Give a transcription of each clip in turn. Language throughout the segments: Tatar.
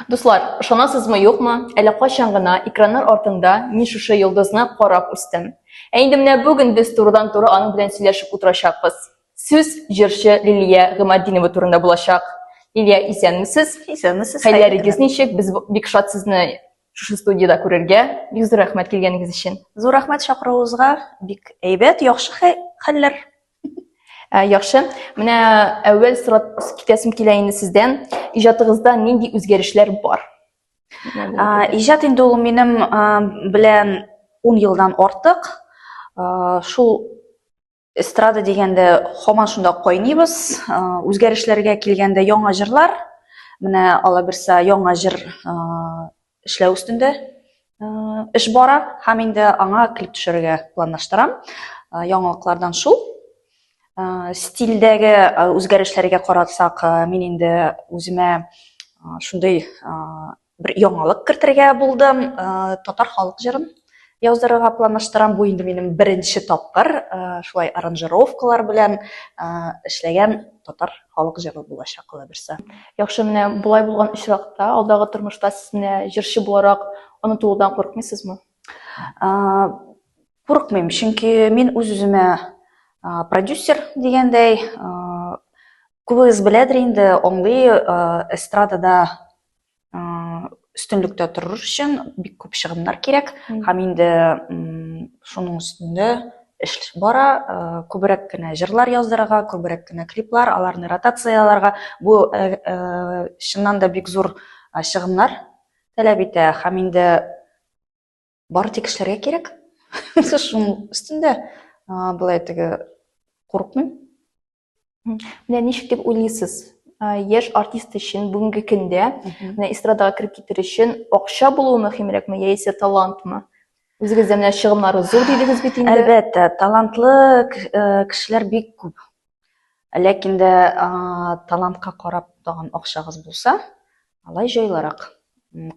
Дуслар, ышанасызмы юкмы, әле кайчан гына экраннар артында мин шушы йолдызны карап үстем. Ә инде менә бүген без турыдан туры аның белән сөйләшеп утырачакбыз. Сүз җырчы Лилия Гымадинова турында булачак. Лилия, исәнмесез? Исәнмесез. Хәйләрегез ничек? Без бик шат сезне шушы студияда күрергә. Бик зур рәхмәт килгәнегез өчен. Зур рәхмәт чакыруыгызга. Бик әйбәт, яхшы хәлләр. Ә, яхшы. Менә әүвәл сорап китәсем килә инде сездән. Иҗатыгызда нинди үзгәрешләр бар? Ә, иҗат инде ул минем белән 10 елдан артык. Шул эстрада дигәндә һаман шунда кайныбыз. Үзгәрешләргә килгәндә яңа җырлар. Менә алаберса яңа җыр эшләү өстендә эш бара һәм инде аңа клип төшерергә планлаштырам. Яңалыклардан шул. Стильдәге үзгәрешләргә карасак, мин инде үземә шундый бер яңалык кертергә булдым, татар халык җырын яздырырга планлаштырам. Бу инде минем беренче тапкыр э, шулай аранжировкалар белән э, эшләгән татар халык җыры булачак кала берсе. Яхшы, менә болай булган очракта, алдагы тормышта сез менә җырчы буларак онытылудан курыкмыйсызмы? Курыкмыйм, чөнки мин үз-үземә продюсер дигәндәй, күбегез беләдер инде, аңлый эстрадада үстенлектә торыр өчен бик күп чыгымнар кирәк һәм инде шуның өстендә эш бара күбрәк кенә җырлар яздырырга күбрәк кенә клиплар аларны ротацияләргә бу чыннан да бик зур чыгымнар таләп итә һәм инде бары тик эшләргә кирәк шуның өстендә былай теге курыкмыйм Менә ничек дип уйлыйсыз? Яшь артист өчен бүгенге көндә менә эстрадага кереп китер өчен акча булуы мөһимрәкме яисә талантмы? Үзегез дә менә чыгымнары зур дидегез бит инде. Әлбәттә, талантлы э, кешеләр бик күп. Ләкин дә талантка карап тагын акчагыз булса, Алай җайлырак,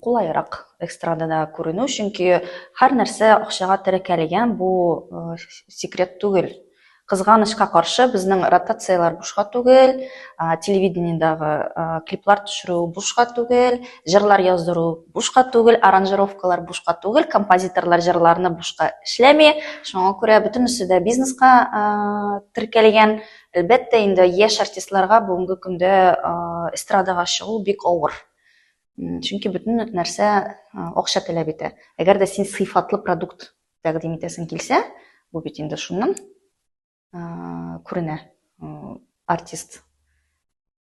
кулайрак эстрадада күренү, чөнки һәр нәрсә акчага теркәлгән, бу секрет түгел. Кызганычка каршы, безнең ротацияләр бушка түгел, телевидениедагы клиплар төшерү бушка түгел, җырлар яздыру бушка түгел, аранжировкалар бушка түгел, композиторлар җырларны бушка эшләми. Шуңа күрә бөтенесе дә бизнеска теркәлгән. Әлбәттә инде яшь артистларга бүгенге көндә эстрадага чыгу бик авыр. Чөнки бөтен нәрсә акча таләп итә. Әгәр дә син сыйфатлы продукт тәкъдим итәсең килсә, бу бит инде шуннан күренә артист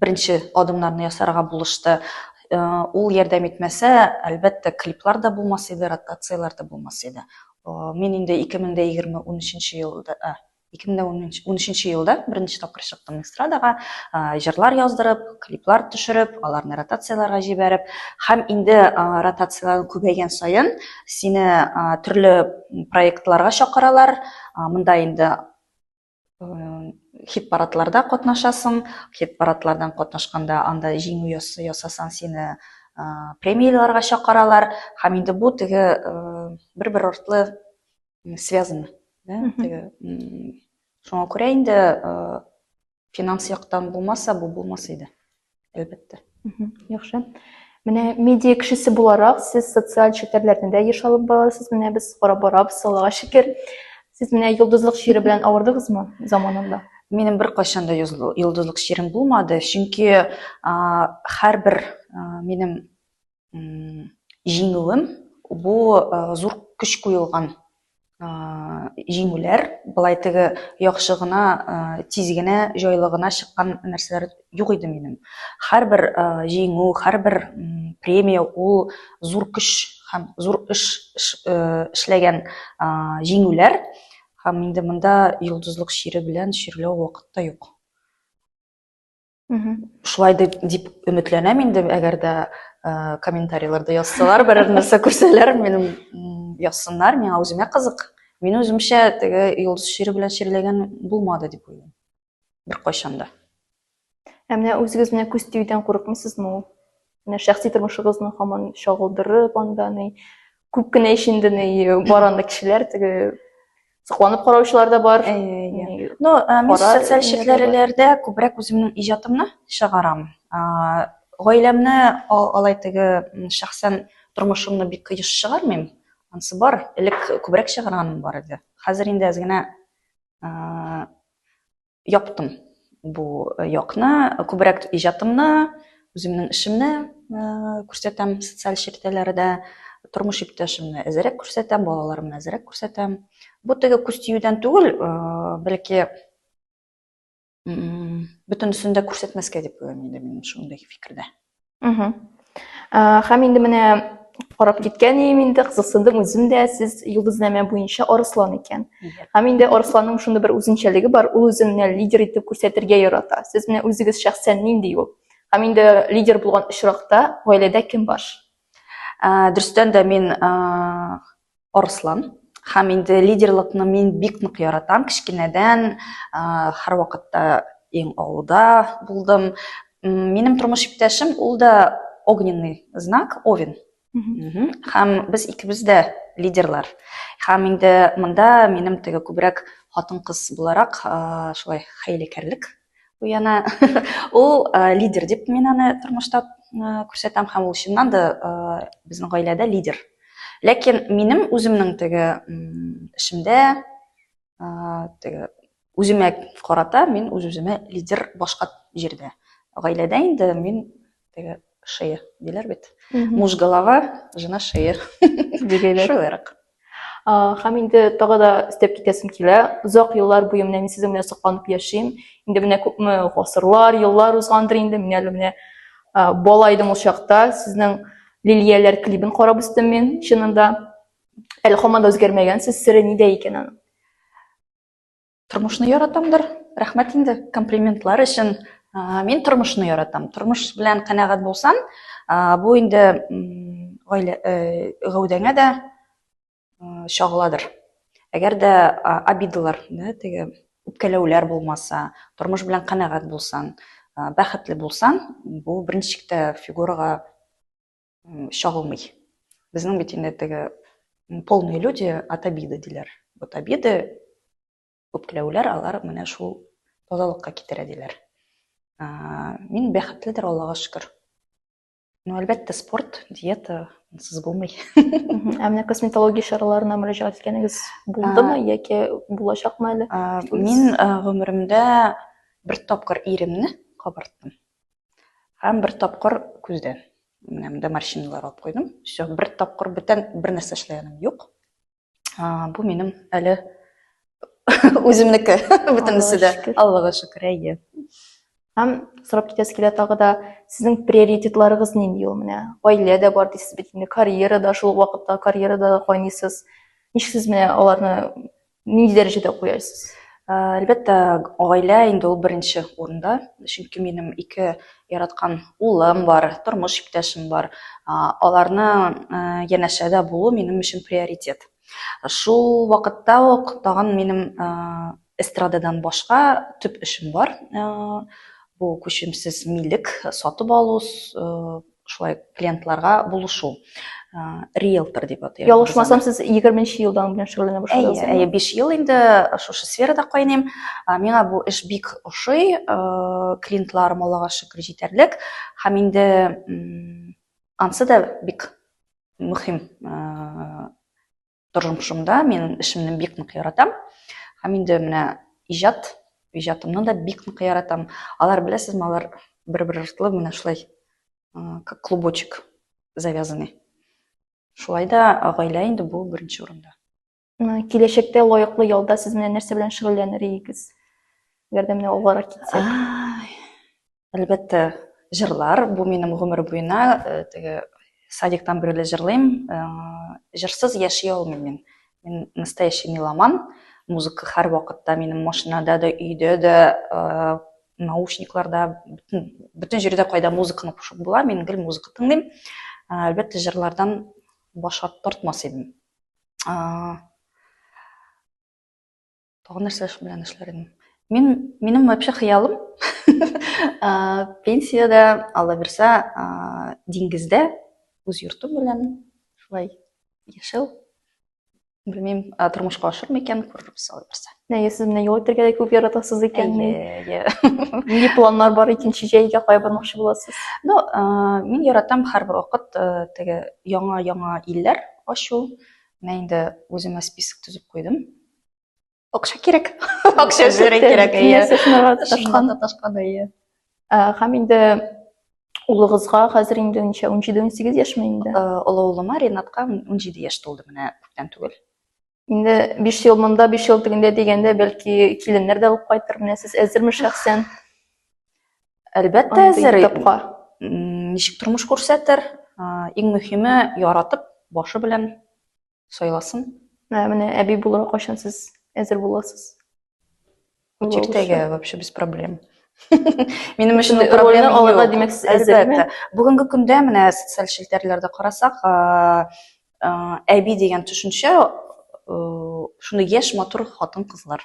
беренче адымнарны ясарга булышты. Э, ул ярдәм итмәсә, әлбәттә, клиплар да булмас иде, ротацияләр дә булмас иде. Э, мин инде 2020-13 елда, 2013 елда беренче тапкыр чыктым эстрадага, э, җырлар яздырып, клиплар төшереп, аларны ротацияләргә җибәреп, һәм инде ротацияләр күбәйгән саен сине төрле проектларга чакыралар. Монда инде хит парадларда катнашасың хит парадлардан катнашканда анда җиңү ясасаң сине премияләргә чакыралар һәм инде бу теге бер бер артлы связано да теге шуңа күрә инде финанс яктан булмаса бу булмас иде Әлбәттә. Яхшы. Менә медиа кешесе буларак, сез социаль челтәрләрдә дә еш алып барасыз. Менә без карап барабыз, салага шикер. Сез менә йолдызлык чире белән авырдыгызмы заманында? Минем бер кайчан да йолдызлык чирем булмады, чөнки һәрбер минем җиңүем бу зур көч куелган җиңүләр былай теге яхшы гына тиз генә җайлы гына чыккан нәрсәләр юк иде минем һәрбер җиңү һәрбер премия ул зур көч һәм зур эш эшләгән җиңүләр һәм инде монда йолдызлык чире белән чирләү вакытта юк шулай дип, дип өметләнәм инде әгәр дә ә, комментарийларда язсалар берәр нәрсә күрсәләр минем язсыннар миңа үземә кызык мин үземчә теге йолдыз чире белән чирләгән булмады дип уйлыйм беркайчан да ә менә үзегез менә күз тиюдән курыкмыйсызмы ул менә шәхси тормышыгызны һаман чагылдырып анда ни күп кенә ич инде ни бар анда кешеләр теге сокланып караучылар да бар ну мин социаль челтәрләрдә күбрәк үземнең иҗатымны чыгарам гаиләмне алай теге шәхсән тормышымны бик еш чыгармыйм анысы бар элек күбрәк чыгарганым бар иде хәзер инде әз генә яптым бу э, якны күбрәк иҗатымны үземнең эшемне э, күрсәтәм социаль челтәрләрдә тормыш иптәшемне әзерәк күрсәтәм балаларымны әзерәк күрсәтәм бу теге күз тиюдән түгел э, бәлки бөтенесен дә күрсәтмәскә дип уйлыйм инде мин шундый фикердә Хәм инде менә карап киткән ием инде кызыксындым үзем дә сез йолдызнамә буенча арыслан икән һәм инде арысланның шундый бер үзенчәлеге бар ул үзен менә лидер итеп күрсәтергә ярата сез менә үзегез шәхсән нинди ул һәм инде лидер булган очракта гаиләдә кем баш ә, дөрестән дә мин ә, Арыслан. Һәм инде лидерлыкны мин бик нык яратам. Кечкенәдән һәр вакытта иң алда булдым. Минем тормыш иптәшем ул да огненный знак, овен. Һәм без икебез дә лидерлар. Һәм инде монда минем теге күбрәк хатын-кыз буларак шулай хәйләкәрлек Bu yana ул лидер дип мин аны тормышта күрсәтәм һәм ул чыннан да безнең гаиләдә лидер. Ләкин минем үземнең теге эшемдә теге үземә карата мин үз-үземә лидер башка җирдә. Гаиләдә инде мин теге шея диләр бит муж голова жена шея дигәйләр шулайрак һәм инде тагы да өстәп китәсем килә озак еллар буе менә мин сезнең белән сокланып яшим инде менә күпме гасырлар еллар узгандыр инде мин әле менә бала идем ул чакта сезнең лилияләр клибын карап үстем мин чынында әле һаман да үзгәрмәгәнсез сере нидә икән аның Тормышны яратамдыр. Рәхмәт инде комплиментлар өчен. Мин тормышны яратам. Тормыш белән канәгать булсаң, бу инде гаилә э, гәүдәңә дә чагыладыр. Әгәр дә обидалар, да, теге үпкәләүләр булмаса, тормыш белән канәгать булсаң, бәхетле булсаң, бу беренче фигурага чагылмый. Безнең бит инде теге полные люди от обиды диләр. Вот обиды, үпкәләүләр алар менә шул тазалыкка китерә диләр. Мин бәхетледер, Аллага шөкер. Ну, әлбәттә, спорт, диета сез булмый. Ә менә косметология чараларына мөрәҗәгать иткәнегез булдымы яки булачакмы әле? Мин гомеремдә бер тапкыр иремне кабарттым. Һәм бер тапкыр күздән. Менә монда морщиналар алып куйдым. Все, бер тапкыр бүтән бер нәрсә эшләгәнем юк. Бу минем әле үземнеке бөтенесе дә. Аллага шөкер, әйе. Һәм сорап китәсе килә тагы да, сезнең приоритетларыгыз нинди ул менә? Гаилә дә бар дисез бит инде, карьера да шул вакытта карьера да кайныйсыз. Ничек сез менә аларны Ни дәрәҗәдә куясыз? Э, әлбәттә, гаилә инде ул беренче урында, чөнки минем ике яраткан улым бар, тормыш иптәшем бар. Аларны э, янәшәдә булу минем өчен приоритет. Шул вакытта ук тагын минем э, эстрададан башка төп эшем бар. Бу күчемсез милек сатып алу, шулай клиентларга булышу риэлтор деп атыйбыз ялгышмасам сез егерменче елдан белән шөгыльләнә башладыгыз әйе әйе биш ел инде шушы сферада кайныйм миңа бу эш бик ошый клиентларым аллага шөкер җитәрлек һәм инде ансы да бик мөһим Тормышымда мин эшемне бик нык яратам. Һәм инде менә иҗат, иҗатымны да бик нык яратам. Алар беләсезме, алар бер-бер артлы менә шулай как клубочек завязанный. Шулай да гаилә инде бу беренче урында. Киләчәктә лаеклы ялда сез менә нәрсә белән шөгыльләнер идегез? Әгәр дә менә алгарак китсәк. Әлбәттә, җырлар. Бу минем гомер буена э, теге садиктан бирле җырлыйм. Э, җырсыз яши алмыйм мин. Мин настоящий меломан. Музыка һәр вакытта минем машинада да, өйдә дә, э, наушникларда, бөтен, бөтен җирдә кайда музыканы кушып була, мин гел музыка тыңлыйм. Әлбәттә, җырлардан баш тартмас идем. Тагын нәрсә эш белән эшләр идем? Мин, минем вообще хыялым пенсияда, алла бирсә, диңгездә үз йортым белән шулай яшәү. Белмим, тормышка ашыр микән, күрербез алла бирсә. Әйе, сез менә юл үтәргә дә күп яратасыз икән. Әйе, әйе. планнар бар икенче җәйгә кая бармакчы буласыз? Ну, мин яратам һәрбер вакыт теге яңа-яңа илләр ачу. Менә инде үземә список төзеп куйдым. акча кирәк акча эшләре кирәк ташканда ташканда иә һәм инде улыгызга хәзер инде ничә ун җиде ун сигез яшьме инде олы улыма ринатка ун җиде яшь тулды менә күптән түгел инде биш ел монда биш ел тегендә дигәндә бәлки киленнәр дә алып кайтыр менә сез әзерме шәхсән әлбәттә әзер ничек тормыш күрсәтер иң мөһиме яратып башы белән Сайласын. Ә менә әби булырга кайчан сез әзер буласыз? Чиктәгә вообще без проблем. Минем өчен проблема алырга димәк сез әзерме? Бүгенге көндә менә социаль челтәрләрдә карасак, әби дигән төшенчә шуны яшь матур хатын-кызлар